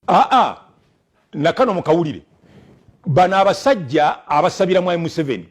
aa nakano mukawulire bano abasajja abasabira mwami museveni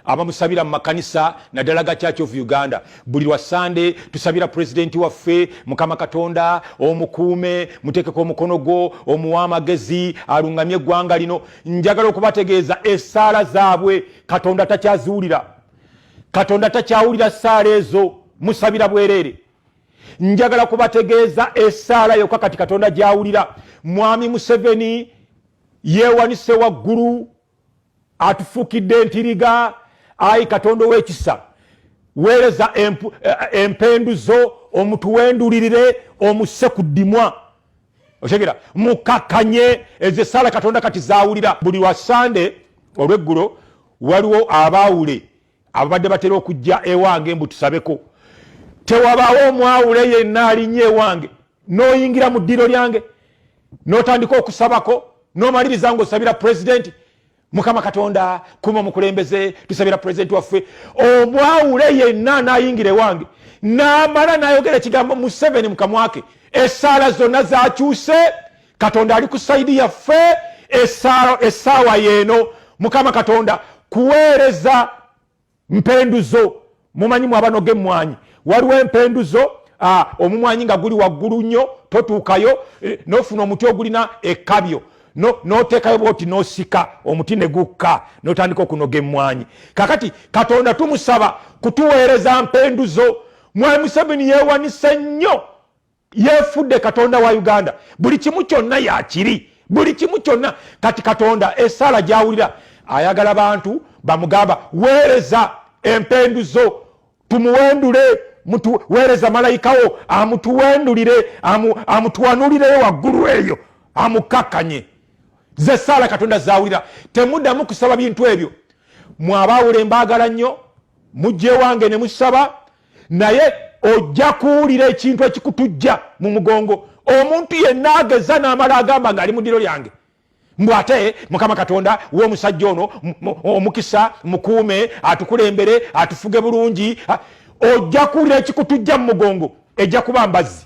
abamusabira mumakanisa naddala ga church of uganda buli lwa sande tusabira pulezidenti waffe mukama katonda omukuume mutekeko omukono gwo omuwa amagezi alungamye eggwanga lino njagala okubategeeza esaala zaabwe katonda takyaziwulira katonda takyawulira saala ezo musabira bwereere njagala kubategeeza esaala yokka kati katonda gyawulira mwami museveni yeewanise waggulu atufuukidde entiriga ayi katonda ow'ekisa weereza eh, eh, empendu zo omutuwendulirire omusse ku ddimwa otegera mukakkanye ezo esaala katonda kati zawulira buli lwa sande olweggulo waliwo abaawule ababadde batera okujja ewange mbu tusabeko tewabaawo omwawule yenna alinnya ewange n'oyingira mu ddiiro lyange n'otandika okusabako n'omaliriza ng'osabira pulezidenti mukama katonda kuma omukulembeze tusabira pulezidenti waffe omwawule yenna anayingira ewange namala nayogera ekigambo museveni mukamwake esaala zonna zakyuse katonda ali ku saidi yaffe esaawa yeeno mukama katonda kuweereza mpenduzo mumanyi mwabanoga emwanyi waliwo empenduzo ah, omumwanyi nga guli waggulu nnyo totuukayo eh, nofuna omuti ogulina ekabyo notekayo bwoti nosika omuti negukka notandika okunoga emwanyi kakati katonda tumusaba kutuweereza mpenduzo mwami museveni yewanise nnyo yefudde katonda wa uganda buli kimu kyonna yakiri buli kimu kyonna kati katonda esaala gyawulira ayagala bantu bamugamba weereza empenduzo tumuwendule weereza malayikawo amutuwendulire amutuwanulireyo waggulu eyo amukakkanye ze saala katonda zawulira temudamu kusaba bintu ebyo mwabaawule mbaagala nnyo mujja ewange ne musaba naye ojja kuwulira ekintu ekikutujja mu mugongo omuntu yenna ageza n'amala agamba nga ali mu ddiro lyange mbu ate mukama katonda w'omusajja ono omukisa mukuume atukulembere atufuge bulungi ojja kuwulira ekikutujja mu mugongo ejja kuba mbazzi